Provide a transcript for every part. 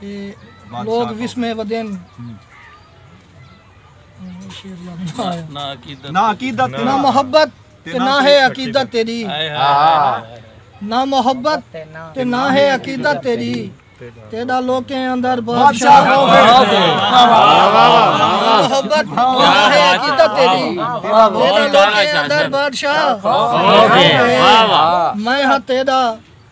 تے لوگ وسمے ودین نہ عقیدت نہ محبت تے نہ ہے عقیدت تیری نہ محبت تے نہ ہے عقیدت تیری تیرا لوکیں اندر بادشاہ ہو گئے محبت نہ ہے عقیدت تیری تیرا لوکیں اندر بادشاہ ہو گئے میں ہاں تیرا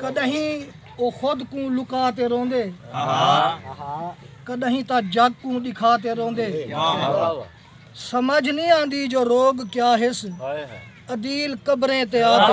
کݙاہیں او خود کوں لکا تے روندے کݙاہیں تاں جگ کوں ݙکھا تے روندے سمجھ نی آندی جو روگ کیا ہس عدیل قبریں تے آتے